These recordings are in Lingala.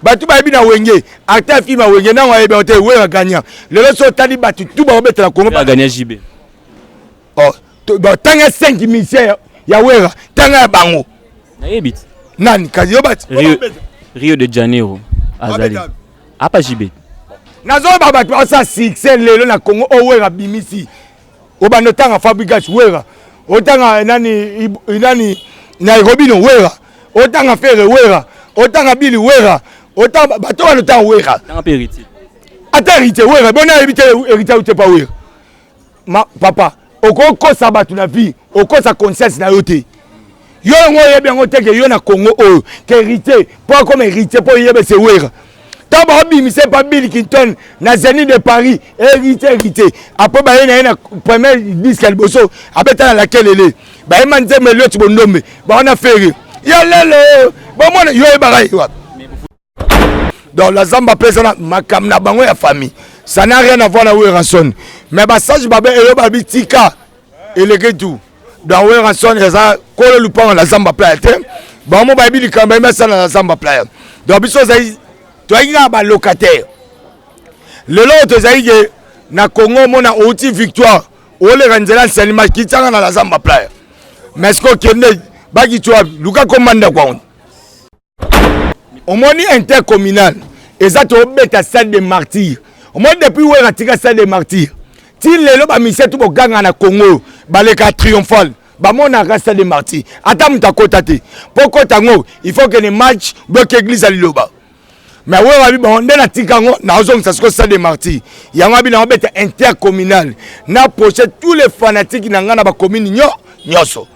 bato bayebi na wenge acte ya film ya wenge ntango ayebi yango te weyo agagna lelo so otali bato tu bakobetela kongo bagagna jb oh, tanga 5 misien ya wera tanga ya bango nayebi te nani kasi yo bati rio de janeiro azali apa jb nazoloba bato baosa succès lelo na kongo oyo oh, wera abimisi obanda otanga fabrigas wera otanga eh, nani eh, nani nairobino wera otanga fere wera otanga bili wera otanga bato wana otanga wera ata herite wera boni ayebi te herite aute pa wera papa okokosa bato na vie okosa conscience na yo te yo yango oyebi yango te ke yo na congo oyo ke héritier mpo akoma héritier mpo oyebe se wera ntango baobimisa epa bill kinton na zeni de paris héritier héritier apres baye na ye na premier disque ya liboso abeta na lakelele bayemba nzembe elioti bondombe bawana fere ya lelo bomona yo oyebaka ye wapi donc la zamba mpe eza na makambo na bango ya famille ça n'a rien à voir na werrason mais basage babe eyo babi tika eleki tu donc werrason eza kolo lupango na zamba playa te bango bayebi likambo bayemi asala na zamba playa donc biso ezali toyaki kaka balocataire lelo oyo tozali ke na congo omona outi victoire oleka nzela nsalima kitianga na la zamba playa mais sikoyo kende bakiti wapi luka komanda kwango omoni intercommunal eza tobeta stade de martyr omoni depuis wera tika stade de martyr ti lelo bamisie tu boganga na congo baleka triomphale bamonaka stade de martyr ata moto akota te mpo okota yango il faut kende match bloke eglise ya liloba mais oyo abi bango nde natika yango naozongisa siko stade de martyr yango abi nango beta intercommunal na proche tous les fanatiques na ngai na bacommune nyo nyonso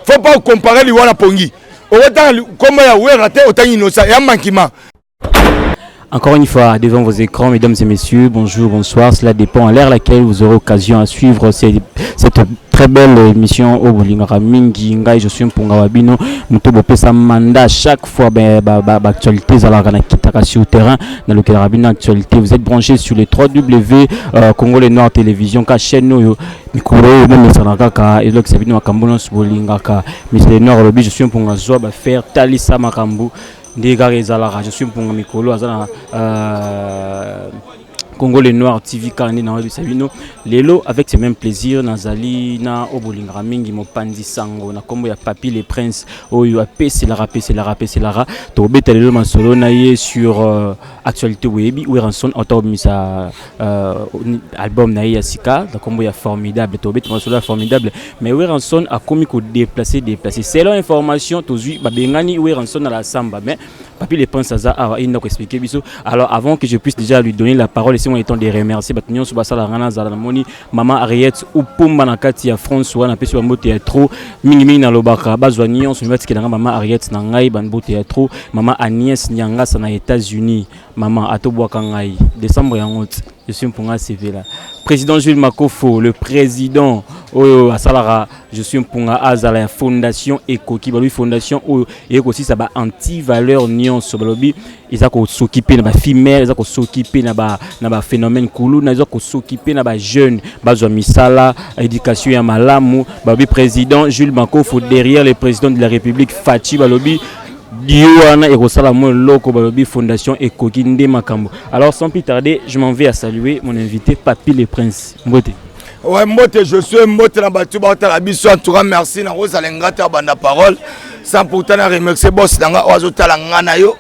faut pas comparer liwa na pongi okotanga kombo ya wera te otangi inosa ya mankima Encore une fois, devant vos écrans, mesdames et messieurs, bonjour, bonsoir. Cela dépend à l'ère laquelle vous aurez occasion à suivre cette, cette très belle émission au Bolingara Mingi Ngai, je suis Mpunga Wabino. Moto Bopesa Manda, chaque fois, ben, bah, bah, bah, actualité, Zalara Nakitaka sur le terrain, dans le Rabino Actualité. Vous êtes branchés sur les 3W, euh, Congo Les Noirs Télévision, Kacheno, mikolo oyo bomesana kaka ezolakisa bino makambo nyonso bolingaka misele noir alobi je suis mpunga zwa bafaire talisa makambo nde kaka ezalaka je suis mpunga mikolo aza na euh, Congo le Noir TV Karine Nawabi Sabino Lelo avec ce même plaisir nazali na obolingaka mingi mopanzi sango na kombo ya Papi le Prince oyo apeselaka peselaka apeselaka tobeta lelo masolo na ye sur euh, actualité webi Weranson auto misa Uh, album na ye ya sika na kombo ya formidable tobeti masolo ya formidable mais weranson akomi kodeplace deplace selon information tozwi babengani weranson na la samba mais papi le prince aza awa ye ndako explike biso alors avant que je puisse déjà lui donner la parole esengo etant de remercier bato nyonso basalaka ngai nazala namoni mama ariette upumba na kati ya france wana apesi bambote ya trop mingimingi nalobaka bazwa nyonso batikela ngai mama ariette na ngai bambote ya trop mama agnès nyangasa na états-unis Maman ato bwaka ngai decembre ya ngoti je suis mpunga sevela président Jules Makofo le président oyo asalaka je suis mpunga azala ya fondation ekoki balobi fondation oyo eye kosisa ba anti valeur nyonso balobi eza kosokipe na bafimere eza kosokipe na ba na ba phénomène kuluna eza kosokipe na ba jeune bazwa misala éducation ya malamu balobi président Jules Makofo derrière le président de la république Fatshi balobi Duo wana ekosala mwa eloko balobi fondation ekoki nde makambo. Alors sans plus tarder, je m'en vais à saluer mon invité Papy le Prince. Mbote. Ouais, mbote je suis mbote na batu ba tala biso en tout cas merci na kozala ngata banda parole. Sans pourtant na remercier boss na nga ozo tala nga na yo.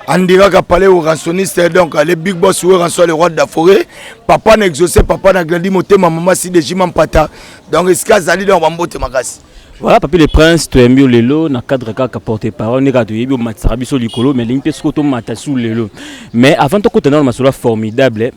Andiraka palais au ransonniste donc le big boss ou rançon le roi de la forêt. Papa na exaucé, papa na grandi motema maman si de jimampata. Donc iska zali donc ba mbote makasi. Voilà Papy le Prince, tu aimes lelo na cadre kaka porte parole ndeka to yebi omatisaka biso likolo mais lingi pe siko to mata sous lelo. Mais avant to kota na masolo formidable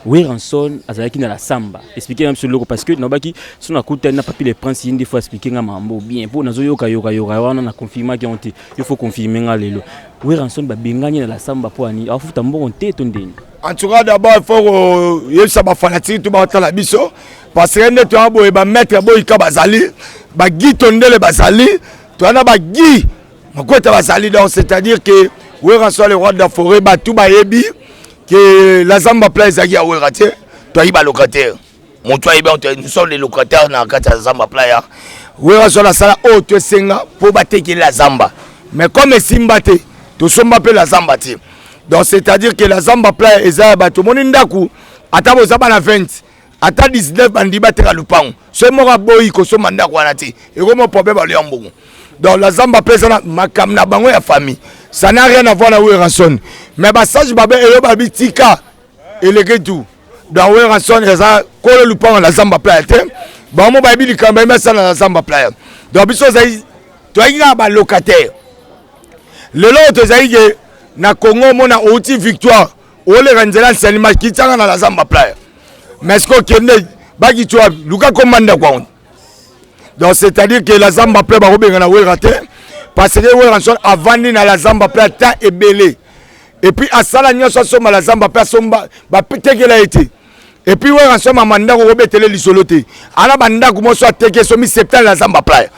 Weranson azalaki na la samba. Expliquer na biso loko parce que nabaki so na kuta na Papy le Prince yindi fois expliquer nga mambo bien po nazo yoka yoka yoka wana na confirmer ki onte. Il faut confirmer nga lelo. Weranson ba bengani na la samba po ani afuta mbongo te to ndeni. En tout cas d'abord il faut yebisa ba fanatiques to ba tala biso parce que nde toya boye ba maître boyika bazali ba gi tondele bazali toya na ba gi makweta bazali donc c'est à dire que wera soit le roi de la forêt bato bayebi que la zamba pla ezalaki ya wera te toyebi balocataire moto ayebi yango nous sommes les locataires na kati ya zamba pla ya wera soit nasala oyo to esenga mpo batekeli la zamba mais comme esimba te tosomba mpe la zamba te donc c'est à dire que la zamba pla eza ya bato omoni ndako ata boza bana 20 ata 19 bandi bateka lupango soki moko aboyi kosomba ndako wana te ekomi problème baloya mbongo donc la zamba mpe eza na makambo na bango ya famille ça n'a rien à voir na werrason mais basage babe eyo babitika eleki tout donc werrason eza kolo lupango na zamba playa te bango bayebi likambo bayemi asala na zamba playa donc biso ezali toyaki kaka balocataire lelo oyo tozali ke na congo omona outi victoire oleka nzela nsani makitsanga na lazamba playa mais siko kende bakitsi wapi luka koma ndako yango donc c'est à dire que lazamba playa bakobengana wera te parce que wera nson avandi na lazamba playa ta ebele epuis asala nyonso asomba lazamba mpe asomba batekela ye te epuis wera so mama ndako kobetele lisolo te ana bandako moso ateke so mi septale na zamba playa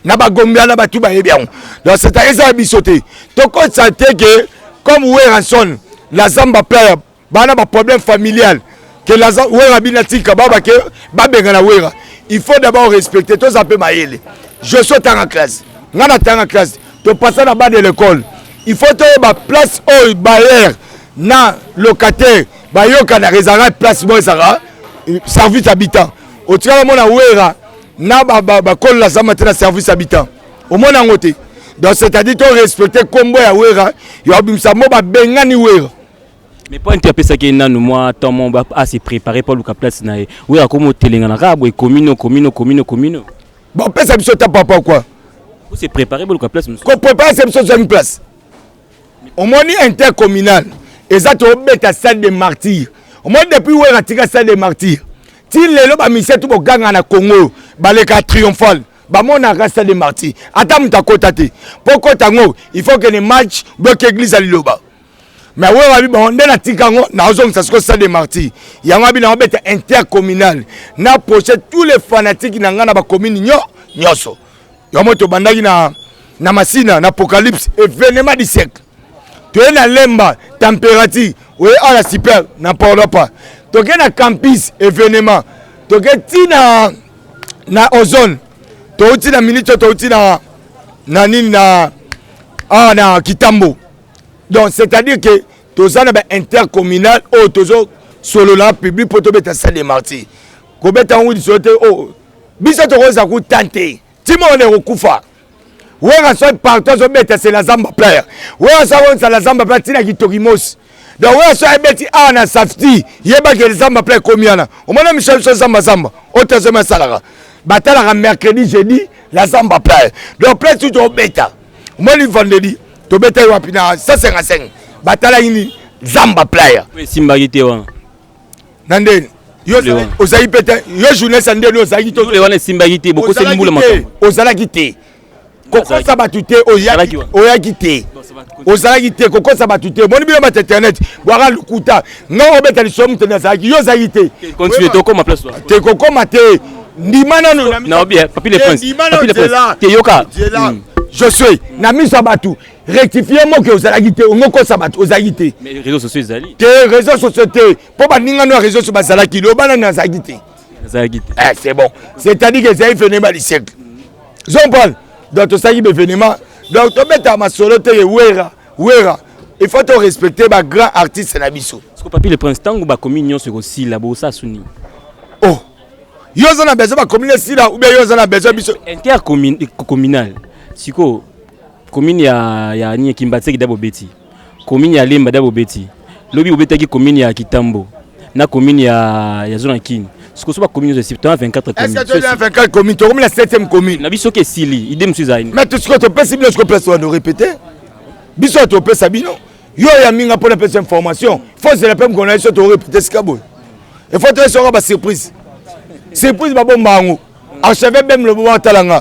na bagombi ana batu bayebi yango donc seta eza ya biso te tokotisa te ke comme weranson la zamba playa bana baproblème familial ke wera bina tika baba ke babengana wera il faut d'abord respecter toza mpe mayele je so tanga classe ngai natanga classe topasa na bas de l'école il faut toyeba place oyo bayer na locataire bayokanaka ezalaka place moko ezalaka euh, service habitant otikala mona wera na bakolola zamba te na service habitant omona yango te donc c'est-à-dire to respecte nkombo ya wera yo abimisa mo babengani wera mais mpo nte apesaki ye nanu mwa temps mo ase préparé mpo aluka place na ye wera akomi otelengana kaka boye komino komino komino komino bapesa biso ta papa kua ose préparé boluka place mosusu koprépare se biso ozwami place omoni intercommunal eza tobeta stade de martyr omoni depuis wera tika stade de martyr ti lelo bamisie tu boganga na congo oyo baleka triomphale bamonaka stade de martyr ata moto akota te mpo kota yango il faut kene match boyoka eglise ya liloba me wera abi bango nde natika yango naozongisa siko stade de martyr yango abi nango beta intercommunal na proche tous les fanatiques na ngai na bacommune nyo nyonso yango tobandaki na, na masina na apocalypse evenement du siècle toye na lemba température oye ala super na paolopa toke na campus evenement toke ti na, na ozone touti na minute oyo touti na, na nini na awa ah, na kitambo donc c'est-à-dire que toza na baintercommunal oyo tozosolola public mpo tobeta salle de martyr kobeta yango lisolo te oyo oh, biso tokozala kuta te ntima wana ekokufa wera soki partout azobeta se la zamba plaire wera soki akonisa la zamba plaire ntina kitoki mosi donc wera soki abeti awa na safti yebaki ele zamba plaire ekomi wana omona michel biso zamba zamba oyo tazomi asalaka batalaka mercredi jeudi la zamba plaire donc plaire tutu obeta omoni vendredi tobetaki wapi na 155 batalaki nini zamba plaire esimbaki te wana na ndeni ozalaki mpe te yo journaliste ya ndeni ozalaki te wana esimbaki te bokoseli mbula makambo ozalaki te kokosa bato te oyaki te ozalaki te kokosa bato te omoni bino bato internet bwaka lokuta nga obeta lisolo moto nde azalaki yo ozalaki te te kokoma te ndima nano na miso ya bato rectifier moke ozalaki te ongo kosa bato ozalaki te réseau sociaux ezali te réseau sociaux te mpo baninga no ya réseau sociaux bazalaki loba nani azalaki te azalaki te eh, c'est bon c'est-à-dire que ezali phénomène du siècle zompal donc tosalaki baévénement donc tobeta masolo te ye wera wera il faut to respecter ba grand artiste na biso siko papi le prince ntango bakomi nyonso ekosila bosa suni oh yo oza na besoin bakomi na esila ou bien yo oza na besoin biso intercommunal sikoyo Commune ya ya ni Kimbatseki da bobeti. Commune ya Lemba da bobeti. Lobi obetaki commune ya Kitambo na commune ya ya zona Kin. Siko soba commune zo sipta 24 commune. Est-ce que tu as 24 commune? To commune la 7e commune. Na biso ke sili. Idée musu zaini. Mais tout ce que tu pèse bino siko place wa no répéter. Biso to pèse bino. Yo ya minga pona pèse information. Faut c'est la pème qu'on a iso to répéter sika boy. Il faut te sera ba surprise. Surprise ba bomba ngo. Archevêque bem lobo wa talanga.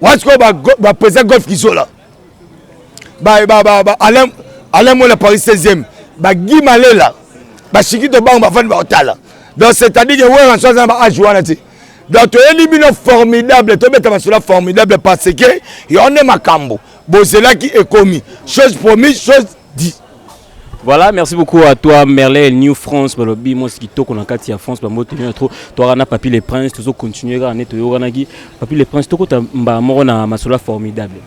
wana sikoyo baprésident ba golf kizola alain alain mola paris 16e bagi malela bashiki tobango bafandi bakotala donc c'est-à-dire que wera nso aza na baage wana te donc toyebi bino formidable tobeta masolo formidable parce que yango nde makambo bozelaki ekomi chose promise chose Dis. Voilà, merci beaucoup à toi Merlin New France balobi moi kitoko na kati ya France ba mbote bien trop toi na Papy le Prince tozo continuer ka neto yokanaki Papy le Prince toko tamba moko na masola formidable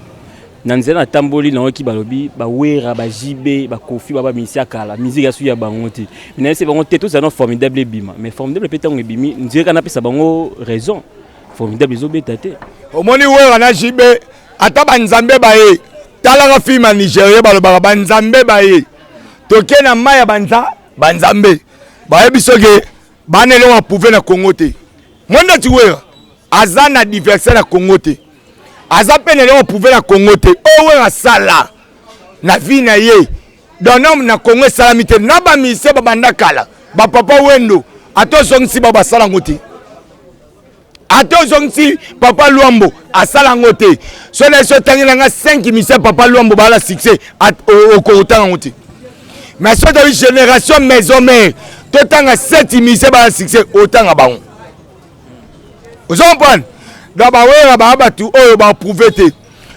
na nzela natamboli nayoki balobi bawera bajibe bakofi baba misia kala miziki ya suki ya bango te nayebisi bango te tozala na formidable ebima mais formidable mpe ntango ebimi nzela napesa bango raison formidable ezobeta te omoni wera na jibe ata banzambe baye talaka filme ya nigeria balobaka banzambe baye toke na mai ya banza banzambe bayebi soki bana eloko aprouve na congo te mwenda tiwera aza na diverse na congo te aza mpe na eloko aprouve na congo te oyo wera asala na vie na ye donome na congo esalami te na bamise babanda kala bapapa wendo ata ozongisi bao basala yango te ata ozongisi papa lwambo asala yango te so na esi otangi na nga 5 misia papa lwambo baala succès okokotanga yango te mais so toyi génération maison mare totanga 7 misia baala succès otanga bango ozo comprendre donc bawera baa bato oyo baaprouve te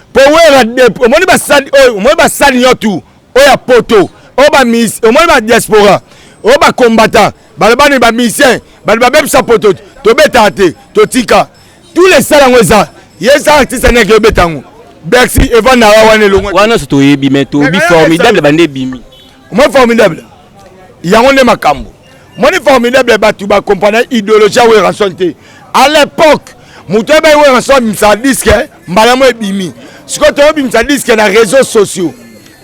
mpo wera omoni basali oyo omoni basali yo tu oyo ya poto oyo baminis omoni badiaspora oyo bacombattant balobani ba musicien bato babebisa poto tobetaka te totika tous les sala yango eza ye eza artiste aneke obeta yango bercy evandaka wana elongo wana nyonso toyebi me toyebi formidable bande ebimi omoi formidable yango nde makambo moni formidable bato bakomprana idéologie ya weranson te à l'époque moto oyebai weranson abimisaka diske eh, mbala mo ebimi sikoyo toyobimisa diske na réseau sociaux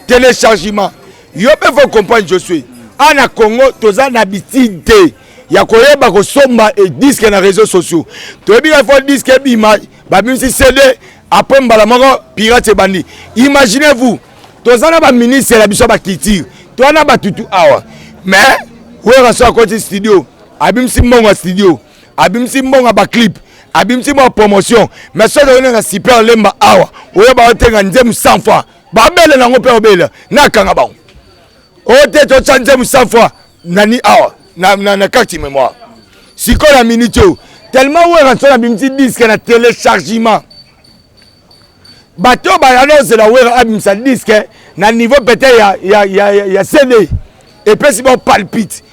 téléchargement yo mpe faut comprendre je suis a na congo toza na bitide te ya koyeba kosomba e diske na réseau sociaux toyebi ka fo diske ebima babimisi cd après mbala moko pirate ebandi imaginez vous toza na baministre na biso ya baculture toza na batutu awa mais wera so akoti studio abimisi mbongo ya studio abimisi mbongo ya baclipe abimisi mwa promotion mais soki oyo na super lemba awa oyo baotenga nzemu 100 fois babele nango mpe obele nakanga bango ote totya nzembo cent fois nani awa na, na, na carte mémoire sikoyo na minute oyo tellement wera nso nabimisi diske na téléchargement bato baya nozela wera abimisa diske na niveau peut-être ya, ya, ya, ya, ya cd epesi bao palpite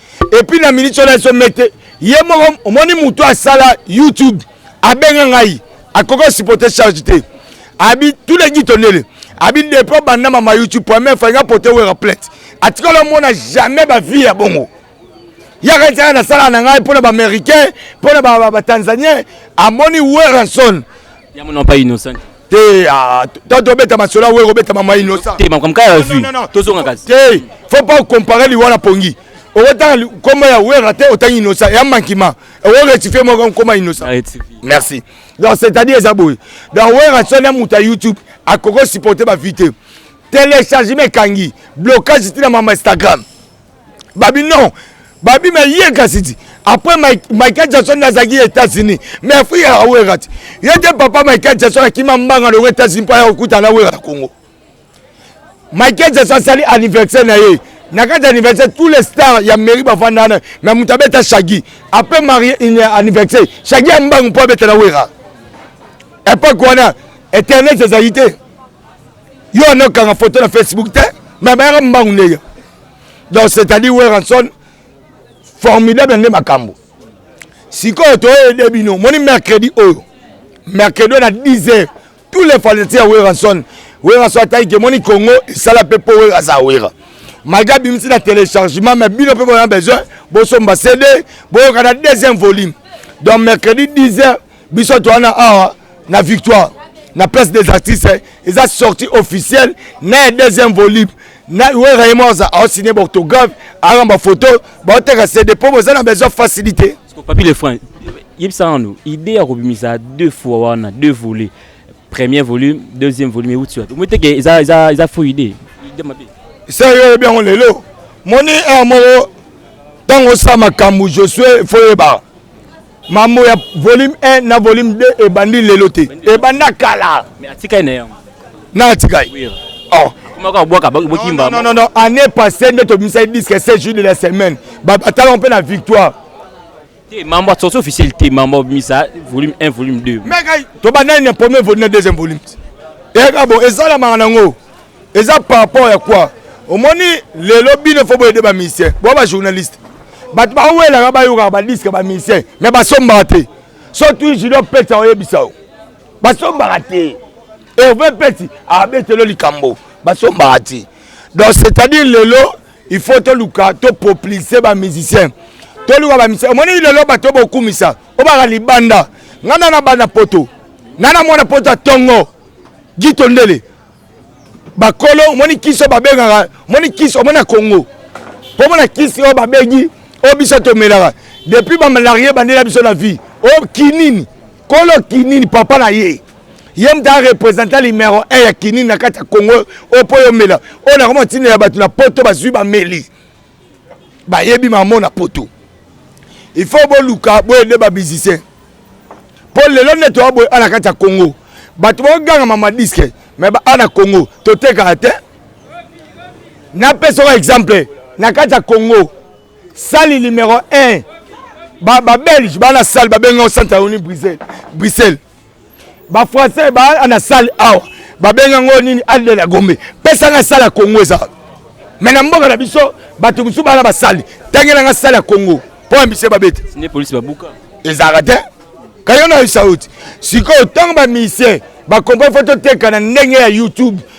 epuis na minute oyo na eso mete ye moko omoni motu asala youtube abenga ngai akoki osipote charge te abi tous les gito ndele abi depo banda mama youtube poame fainga pote wera plate atikala omona jamais bavie ya bongo yaka ntaka nasalaka na ngai mpo na baaméricain mpo na batanzanien amoni weranson te ah, tanto obeta masolo awere obeta mama innocent te makambo kaka vu tozonga kasi te faut pas comparer liwa na pongi okotanga nkombo ya wera te otangi innocent ya mankima oko rectifie moko nkoma innocent merci donc c'est-à-dire eza boye donc wera soni moto ya youtube akoki osupporte bavi te téléchargement ekangi blocage ti na mama instagram babi non babi me ye kasi ti après michael jackson azalaki états-unis mais afrika ya wera ti ye te papa michael jackson akima mbanga loko états-unis mpo aya kokutana na wera na congo Michael Jackson asali anniversaire na ye na kati ya anniversaire tous les stars ya mairie bafanda wana mais moto abeta shagi apres marie anniversaire shagi ya mbangu mpo abeta na wera epoke wana internet ezali te yo wana okanga foto na facebook te mais bayaka mbangu ndenge donc c'est à dire weranson formidable nde makambo sikoyo toyede bino moni mercredi oyo mercredi oyo na 10 heures tous les fanatiques ya werrason werrason ataike emoni congo esala mpe mpo wera aza wera malgré abimisi na téléchargement mais bino mpe boza besoin bosomba cd boyoka na deuxième volume donc mercredi 10 heures biso towana awa na victoire na place des artistes eza sortie officielle na ya deuxième volume na wera ye moko aosigne baorthographe ayamba photo baoteka cd mpo boza na besoin facilité Papi le franc, yebisa nanu idée ya kobimisa deux fois wana deux volets premier volume deuxième volume euti wapi omoni teke eza, eza, eza faux idée idée mabe sa yo oyebi yango lelo moni heure moko ntango osala makambo josue fo oyebaka mambo ya volume 1 na volume 2 ebandi lelo te ebanda kala atikali na yango na atika ye oh. année passée nde tobimisaki disque 16 jour de la semaine batalaka mpe na victoire te mambo asorti officiel te mambo obimisa volume 1 volume 2 meka tobandani na premier volume na deuxième volume eyaka bo esalamaka nango eza par rapport ya quoi omoni lelo bino fo boyede bamisien bo bajournaliste bato bawelaka bayokaka badiske bamisien me basombaka te so tui junior pesa oyebisa yo basombaka te herve peti abetelo likambo basombaka te donc c'est-à-dire lelo il faut toluka topoplise bamusicien toluka bamusicien omoni lelo bato bokumisa obaka libanda ngai nana bana poto nana mwana poto ya tongo gito ndele bakolo omoni kisi oyo babengaka omoni kisi omoni ya kongo mpo omona kisi oyo babengi oyo biso tomelaka depuis bamalarie bandela biso na vie oyo kinini kolo kinini papa na ye ye moto arepresenta numero 1 ya kinini na kati ya congo oyo mpo yomela oyo nakoma ntina ya bato na poto bazwi bameli bayebi mamo na poto il faut boluka boyede bamusicien mpo lelo nde toya boye ana kati ya congo bato bakoganga mama diske me ana congo totekaka te napesoka exemple na kati ya congo sali numero 1 babelge baa na sale babenga yango centre yauni bruxelles bafrançais baa na sale awa babenga yango nini alde na gombe pesanga sale ya congo eza me na mboka na biso bato mosusu baa na basali tangelanga sale ya congo mpo ya biso babeta ezalaka te kayo na yo sauti sikoyo ntango bamisie bakomprene fo toteka na ndenge ya youtube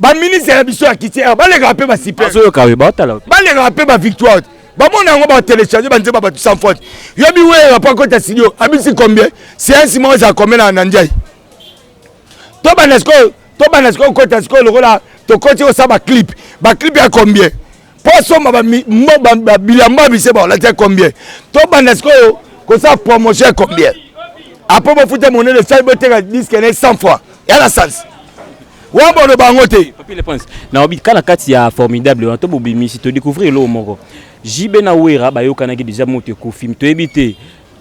baministre na biso ya kiti awa balekaka mpe basipebalekaka mpe bavictoire bamona yango batelecharge banzemba bato sans faute yobi weyela mpo akota studio abisi combien siansi moko ezala komela na ndiai tobanda sikoyo tobanda sikoyo kota sikoyo lokola tokoti kosala baclip baclip ya combien mpo asomba bilamba bise baolati ya combien tobanda sikoyo kosala promotion ya combien apres bofuta monene esali boteka diske ne 100 fois ya na sansi wana boloba yango te naobi ka na kati ya formidable wana to bobimisi todécouvrir eloko moko jb na wera bayokanaki deja moto ekufi toyebi te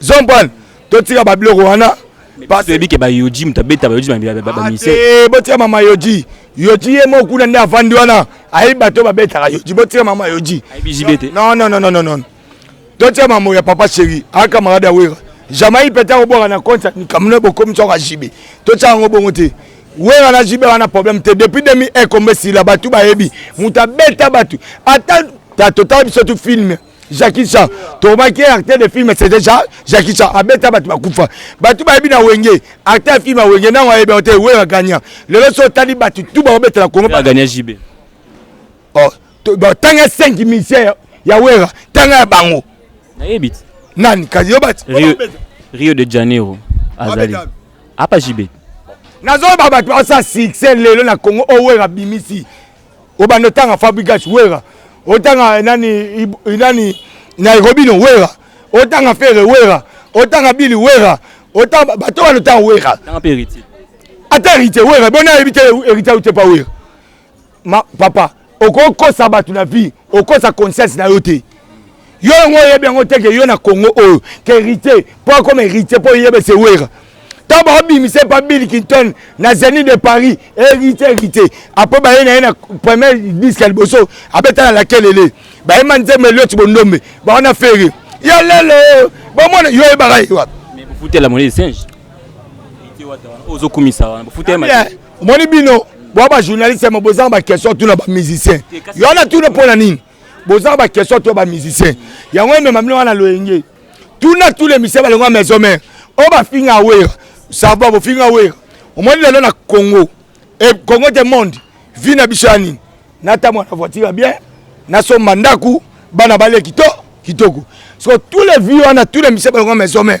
zompane totika babiloko wana toyebi ke bayoji moto abeta bayoji bamise ah, eh, botika mama yoji yoji ye moko kuna nde avandi wana ayebi bato oyo babetaka yoji botika mama yoji nonnnnn totika mambo ya papa sheri aka marade ya wera jamai pete akobwaka na konti ya mikamino bokomi soko ajibe totika yango bongo te wera na jibe wana problème te depuis demi ekombe sila bato bayebi moto abeta bato ata totala biso tu filme Jackie Chan tomaki acteur de film c'est déjà Jackie Chan abeta bato bakufa bato bayebi na wenge acteur ya film ya wenge nango ayebi yango te wenge agagna lelo so otali bato tu bakobetela kongo bagagna jb oh, tanga 5 misère ya wera tanga ya bango nayebi te nani kasi yo bati rio, rio de janeiro azali apa jb nazoloba bato baosa succès lelo na kongo oyo wera abimisi obanda otanga fabrigas wera otanga eh, nani eh, nani nairobino wera otanga fere wera otanga bili wera otanga bato wana otanga wera ata herite wera boni ayebi te herite auti epa wera papa okokosa bato na vie okosa conscience na yo te yo yango oyebi yango te ke yo na congo oyo ke héritier mpo akoma héritier mpo oyebe se wera ntango baobimisa epa bill kinton na zeni de paris héritier héritier apres baye na ye na premier disque ya liboso abeta na lakelele bayemba nzembo elioti bondombe bawana fere ya lelo bomona yo oyebaka ye wapi bofutela moni singe ozokumisa wana bofutela omoni bino bwa bajournaliste ya mobozanga baquestion tuna bamusicien yo na tuna mpo na nini boza ba question to ba musicien yango emema bino wana loyenge tuna tule misala balongo ya maison mère oyo bafinga wera sava bofinga wera omoni lelo na congo e congo de monde vi na biso ya nini natambola na voiture ya bien nasomba ndako bana balie kito kitoko so tous les vie wana tous les misala balongo ya maison mère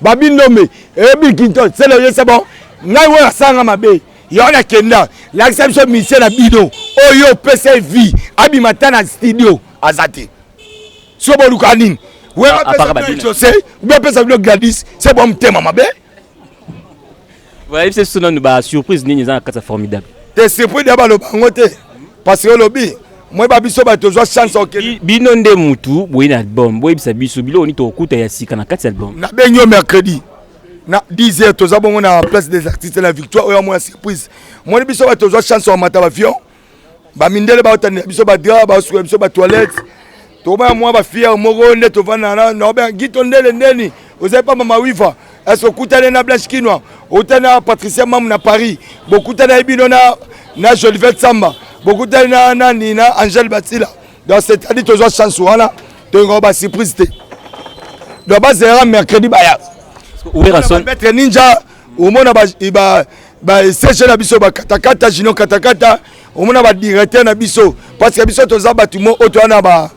Babi Ndombe, eh Bickinton, c'est le c'est bon. Ngai oyo asanga mabe. Yo na kenda, lakisa biso mission na bino. Oyo pesa vie, abima ta na studio, azate. Sio boluka nini? We apesa bino Jose, we apesa bino Gladys, c'est bon mtema mabe. Boyebisa biso nanu ba surprise nini eza na kati ya formidable. Te surprise ya baloba yango te parce que olobi moyeba biso bato tozwa chance okende bino nde mutu boye na album boyebisa biso biloko nini tokokuta ya sika na kati ya album. Nabengi yo mercredi na 10 heures toza bongo na place des artistes la victoire oyo amona surprise moni biso bato tozwa chance wamata bavion ba mindele ba otani biso ba dra ba suka biso ba toilette to ba mwa ba fier moko nde to vana na na ba gito ndele ndeni oza pa mama wiva est-ce okutane na blanche kinwa otani na patricia mamu na paris bokutani na bino na na jolivette samba bokutani na nani na angel batila donc c'est-à-dire tozwa chance wana toyinga ba surprise te donc bazela mercredi baya werrason maître ninja omona ba ba sege na biso bakatakata jino katakata omona badirecteur na biso parce que biso toza bato mo oyo toya na ba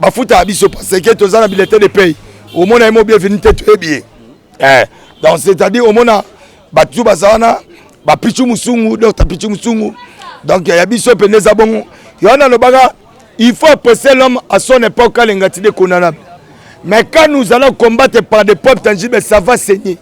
bafuta ya biso parce que toza na bilete de pay omona ye mo bienvenu te toyebi ye eh, donc c'est à dire omona bato baza wana bapichu mosungu docteur pichu mosungu donc ya biso mpende eza bongo yo wana alobaka il faut apprécier l'homme à son époque alengati de condamnable mais quand nous allons combattre par des peuples tangibles ça va saigner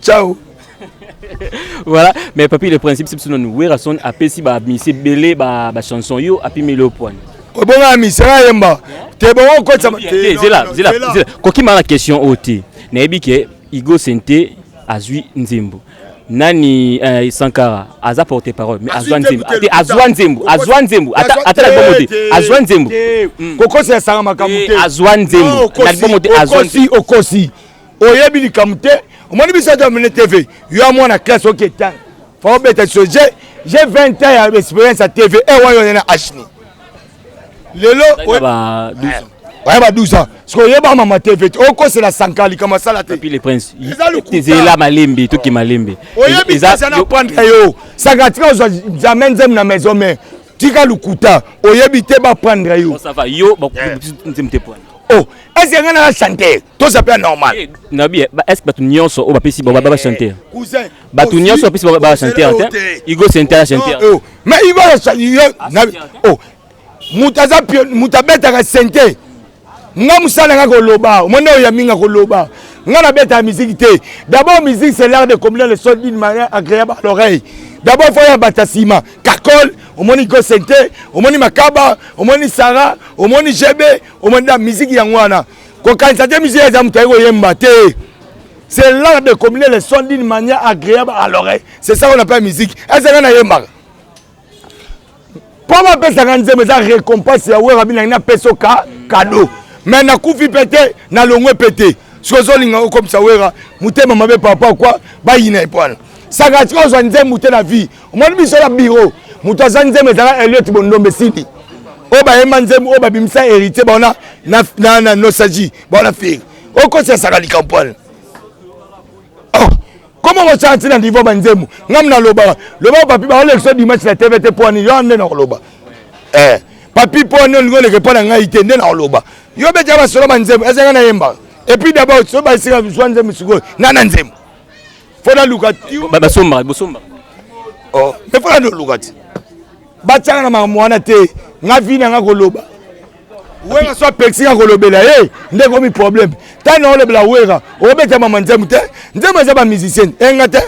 ciao voilà mais papi le principe c'est biso nanu werrason apesi bamisi ebele bachanson yo apimeli yo pwani obonga ya misi ayemba te bongo okotisa kokima na question oyo te nayebi ke igo sente azwi nzembo nani eh, sankara aza porte parole mais azwa nzembo te azwa nzembo azwa nzembo ata na libomo te azwa nzembo kokosi esanga makambo te azwa nzembo na libomo te azwa okosi oyebi likambo te omoni biso aza mene tv yo ya mwana classe oketa fa obeta so je je 20 ans ya experience ya tv e eh, wayo na ashni lelo oye ba 12 ans sikoy oyeba mama tv te okosela sanka likambo asala te ezala malembe toki malembe oyebi eza na prendre yo sanka tika ozwa jamai nzembe na maison mare tika lokuta oyebi te baprendre yo oh Est-ce que ngana chanter To ça peut normal. Eh, Nabi, eh, est-ce que batu nyonso o bapesi ba ba chanter eh, Cousin. Batu nyonso bapesi ba ba chanter te. Igo chanter chanter. Oh, mais Igo chanter. Ah, Nabi. Oh. Mutaza pio mutabeta ka chanter. Nga musala nga ko loba. Omona oya minga ko loba. Nga na beta musique te. D'abord musique c'est l'art de combiner le son d'une manière agréable à l'oreille. D'abord faut ya batasima. Kakol omoni gosente omoni makaba omoni sara omoni jebe omanda miziki yango wana kokanisa te miziki eza moto aye koyemba te c'est l'art de combiner les sons d'une manière agréable à l'oreille c'est ça qu'on appelle musique ezanga nayembaka mpo bapesaka nzembo eza récompense ya wera binangi napesa oka kado me nakufi mpe te nalongwe mpe te soki ozolinga okomisa wera motema mabe papa kwa bayina ye mpo wana saka tika ozwa nzembo te na vie omoni biso na biro moto aza nzembo ezala eliot bondombe sidi oyo bayemba nzembo oyo babimisa héritier baona na nostalgie baona fere okosesaka likambo wana oh, koma kosala ntina niveau banzembo ngam naloba loba papi baolekisa dimanche na tv te mpo ani yo nde nakoloba eh, papi mpo ani olingi oleke mpo na ngai te nde nakoloba yo betya basolo banzembo ezanga nayembaka epuis dabord so baesika zwa nzembo sikoyo nga na nzembo fo naluka basombaka bosombaka oh, mais fo naluka ti batyaka na makambo wana te nga vi na nga koloba wera so apekisi nga kolobela ye nde ekomi problème ntango na olobela wera obeta mama nzembo te nzembo eza bamusicienne enga eh, te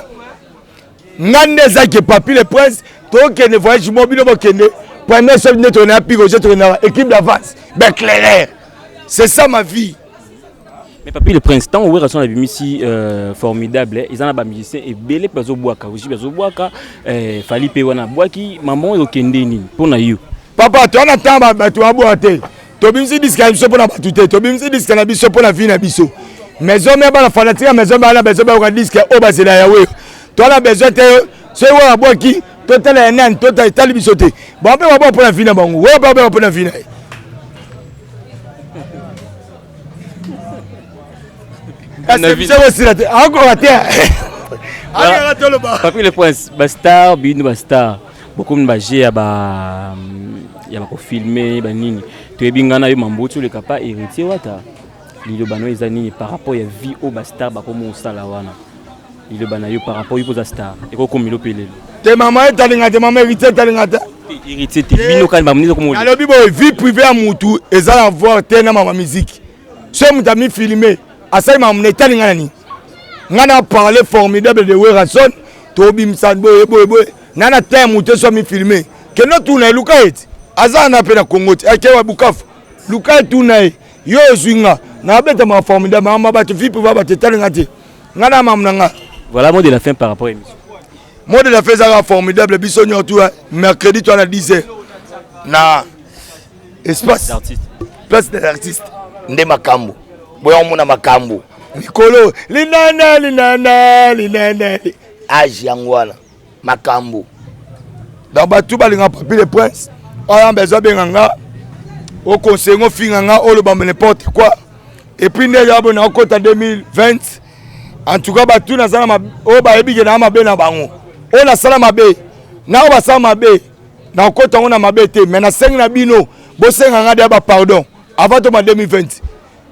nga nde ezaki papi le prince tokende voyage mo bino bokende première soki nde tokende na pigo je tokende na équipe d'avance beclairer c'est ça ma vie Mais papi le prince, tant Wera son abimisi euh, formidable, eh, ils en a ba musiciens et belé bazo boaka, aussi bazo boaka, euh, Fali pe wana boaki, maman yo kende ni pona yo. Papa, tu ana tamba ba tu aboa te. To bimisi diska biso pona batu te, to bimisi diska na biso pona vie na biso. Maison mère bana fanatique maison bana besoin ba ka diska o oh, ba zela ya Wera. To ana besoin te, c'est Wera boaki. totala ya nani tota etali biso te bape baba mpo na vi na bango oyo bape mpo na vi na ye kasi biso kosila te akoka te ayaka toloba papi le prince bastar bino bastar bokomi baje ya ba ya bakofilme banini toyebi ngai na yo mamboki oleka pa héritier wata Liloba nayo eza nini par rapport ya vie oyo ba star bakomi osala wana? Liloba nayo par rapport yuko za star ekokomelo pelelo. Te mama etalinga te mama héritier etalinga te. Héritier te bino kani ba munisa komo. Nalobi boye vie privée ya mutu eza na voir te na mama musique. Soki mutu ami filmer asali mama na etalinga na nini? Nga na parler formidable de Werrason tobimisa boye boye boye na na temps mutu so ami filmer. Kendo tuna eluka eti aza na pe na Congo te akewa Bukavu. Luka tuna ye. yo ozwi nga nabeta ma formidable mama bato vipe ba bato etali nga te nga na mamu na nga voilà mot de la fin par rapport émission mot de la fin ezalaka formidable biso nyonso tu mercredi to na 10 heures na espace place des artistes nde makambo boya komona makambo mikolo linana linana linana age yango wana makambu donc bato balinga papi le prince oyamba ezo abenga nga oconseille ngo finga nga oloba n'importe quoi epuis nde yabo na okota 2020 en tout cas bato naza na oyo bayebi ke naa mabe na bango oyo nasala mabe na oyo basala mabe nakokota yango na mabe te mai nasengi na bino bosenga nga deya bapardon avant toma 2020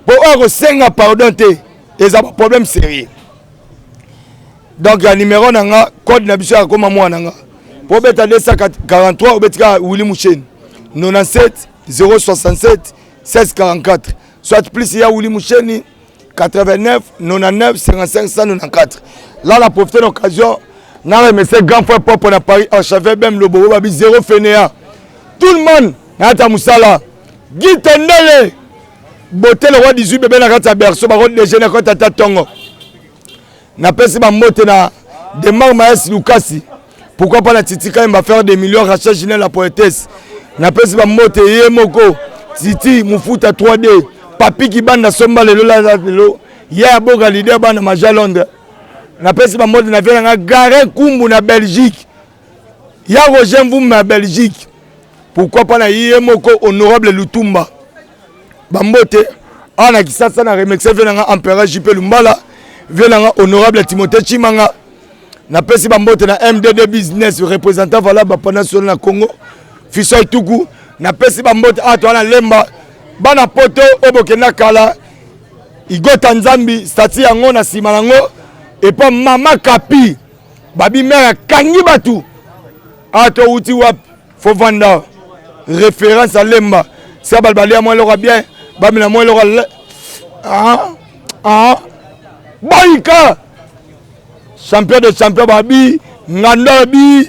mpo oyo akosenga pardon te eza baproblème sérieux donc ya numero na nga code na biso ya koma mwana nga po beta 243 obeti kaka wili musheni 97 067 1644 soit plus ya wili musheni 89 99 55 194 là la profite l'occasion na remercier grand frère propre na paris archevêque bem lobobo babi zero fenea tout le monde nayata mosala gitendele bote lokwa 18 bebe na kati ya berceau bako dejeuner kota ata tongo napesi bambote na demar maes lukasi pourquoi pas na titi kayemba faire des millions rachel ginel la poétesse napesi bambote ye moko titi mofuta 3d papi kibanda somba lelo lala lelo ya ya boka lider bana maja londres napesi bambote na vie na ngai gare kumbu na belgique ya roger mvumba ya belgique pourquoi pas na ye moko honorable lutumba bambote awa na kisasa na remercie vie nanga empereur jp lumbala vie nanga honorable timothée chimanga napesi bambote na mdd business représentant valable bapanational na congo fisoi tuku napesi bambote awa toa na lemba bana poto oyo bokenda kala igota nzambi stati yango na nsima yango epa mama kapi Babi mère akangi batu. Ah to uti wap faut vanda référence à Lemba. Ça balbalé à moi le bien. Bami la moi le Ah ah Baïka champion de champion babi nganda bi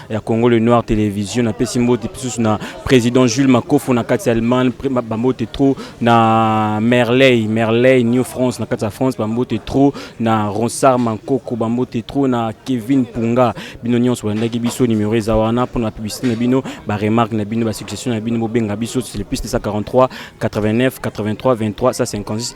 ya Congo le Noir Television na pesi mbote pisusu na président Jules Makofo na kati ya Allemagne bambote trop na Merley Merley New France na kati ya France bambote trop na Ronsard Mankoko bambote trop na Kevin Punga bino nyonso bolandaki biso numéro eza wana mpo na publicité na bino ba remarque na bino ba suggestion na bino bobenga biso c'est le plus 943 89 83 23 156